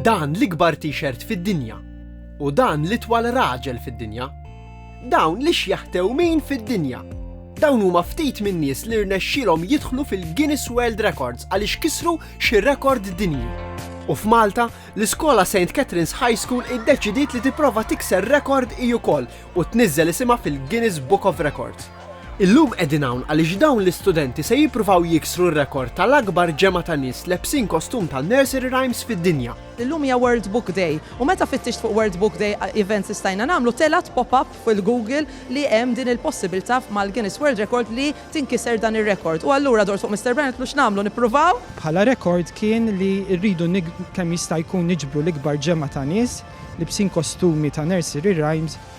Dan l-ikbar T-shirt fid-dinja. U dan l-itwal raġel fid-dinja. Dawn l-ixjaħ tewmin fid-dinja. Dawn huma ftit min-nies li rnexxielhom jidħlu fil-Guinness World Records għaliex kisru xi rekord dinji. U f'Malta, l-iskola St. Catherine's High School iddeċidiet li tipprova tikser rekord hi wkoll u tniżżel isimha fil-Guinness Book of Records. Illum qegħdin hawn għaliex dawn l-istudenti se jippruvaw jiksru r-rekord tal-akbar ġemgħa ta' nies lebsin kostum tan-nursery rhymes fid-dinja. Illum hija World Book Day u meta fittixt fuq World Book Day events li stajna nagħmlu telgħet pop-up fil-Google li hemm din il-possibilità mal-Guinness World Record li tinkiser dan ir-rekord u allura dort fuq Mister Brian u għedtlu x'nagħmlu nippruvaw? Bħala rekord kien li rridu kemm jista' jkun niġbru l-ikbar ġemgħa ta' nies libsin kostumi ta' nursery rhymes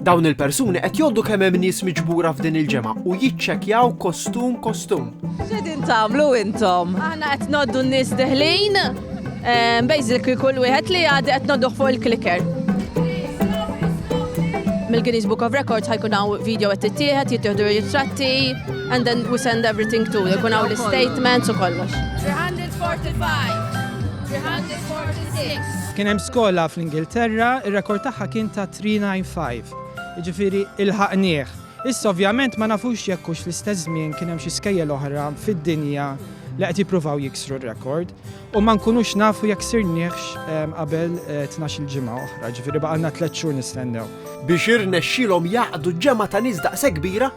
Dawn il-persuni qed jgħoddu kemm hemm nies miġbura f'din il-ġemgħa u jiċċekkjaw kostum kostum. X'edin tagħmlu intom? Aħna qed noddu n-nies deħlin, ehm, basically kull wieħed li għadi qed nodduh fuq il-kliker. Mill-Guinness Book of Records ħajkun hawn video qed tittieħed, jittieħdu ritratti, and then we send everything to, jkun hawn l-statements u kollox. 345, 300. Kien hemm skola fl-Ingilterra, ir-rekord tagħha kien ta' 395, jiġifieri ilħaqnieh. Issa ovvjament ma nafux jekk hux fl-istess żmien kien hemm xi skejjel oħra fid-dinja li qed jippruvaw jiksru r-rekord u ma nkunux nafu jekk sirniehx ehm, qabel eh, tnax-il ġimgħa oħra, ġifieri baqalna tliet xhur nistennew. Biex irnexxilhom jaqdu ġemgħa ta' nies daqshekk kbira,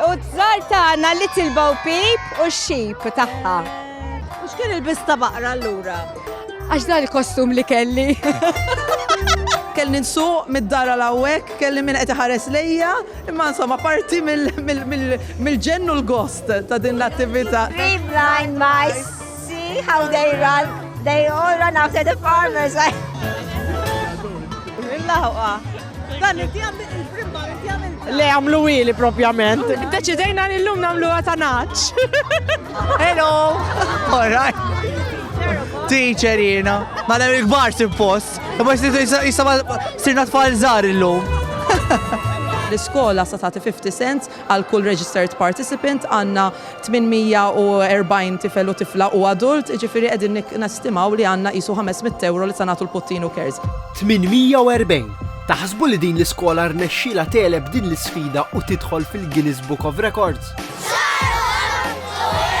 U t-tżar tagħna Little Bo Peep u x-xip tagħha. U x'kien il-biss ta' baqra allura? Għax dan il-kostum li kelli. kelli nsuq mid-dara l-għawek, kelli minn qed ħares lejja, imma insomma parti mill-ġennu l-gost ta' din l-attività. Three blind mice, see how they run, they all run after the farmers. Illa ħuqa. Dan inti għamil il-frimba, inti għamil. Le għamlu ili propjament. Deċidejna li l-lum namlu għatanaċ. Hello! Alright. Teacher jina. Ma l il-gbar simpost. Ma jisama sirna tfal zar il-lum. L-iskola sa tagħti 50 cents Għal kull registered participant għandna 840 tifel u tifla u adult, jiġifieri qegħdin nestimaw li għandna qisu 500 ewro li se nagħtu l-Puttinu Cares. 840! Taħsbu li din l-iskola rnexxielha tegħleb din l-isfida u tidħol fil-Guinness Book of Records? Żgħar u kbar! Ħuh!